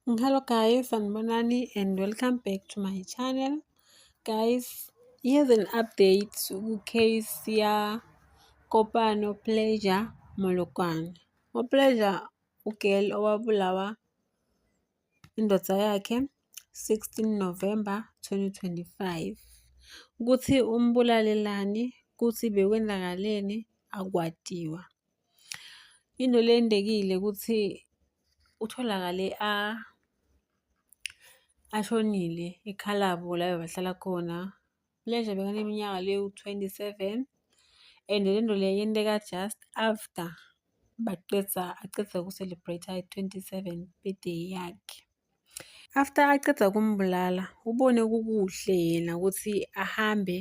hello guys sanibonani and welcome back to my channel guys here's an update ku-case yakopano pleasure molokwane upleasure ugirl owabulawa indoda yakhe 16 november 2025 ukuthi umbulalelani ukuthi bekwenzakaleni akwatiwa Into lendekile ukuthi utholakale a ashonile eKhalabo la bebahlala khona. Le nja bekaneminyaka lewu-twenty-seven and le nto le yenteka just after baqeda aqeda uku-celebrate-a i-twenty-seven birthday yakhe. After aqeda kumbulala ubone kukuhle yena ukuthi ahambe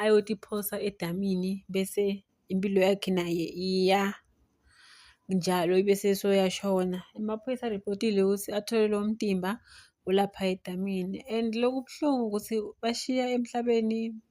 ayotiphosa edamini bese impilo yakhe naye iya njalo ibe sesoyashona. Amaphoyisa aripotile ukuthi athole lo mtimba ulapha edamini and lokubuhlungu ukuthi bashiya emhlabeni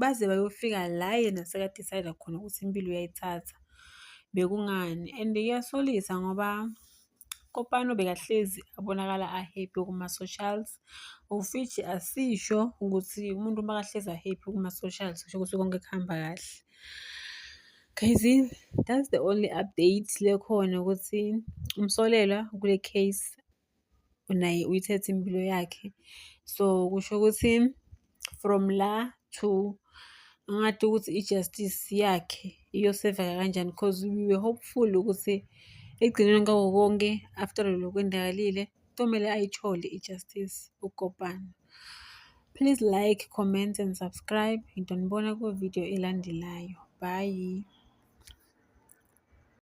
baze bayofika la yena sekadicayida khona ukuthi impilo uyayithatha bekungani and iyasolisa ngoba kopano bekahlezi abonakala ahappy kuma-socials ufithi asisho ukuthi umuntu uma kahlezi ahappy kuma-socials kusho ukuthi konke kuhamba kahle guys that's the only update lekhona ukuthi umsolelwa kule case naye uyithethe impilo yakhe. So kusho ukuthi from la to ngathi ukuthi i-justice yakhe iyoseveka kanjani because we were hopeful ukuthi ekugcineni kwako konke after lokho kwendakalile kumele ayithole i-justice ukopana please like comment and subscribe ngidonibona kwividiyo elandelayo bye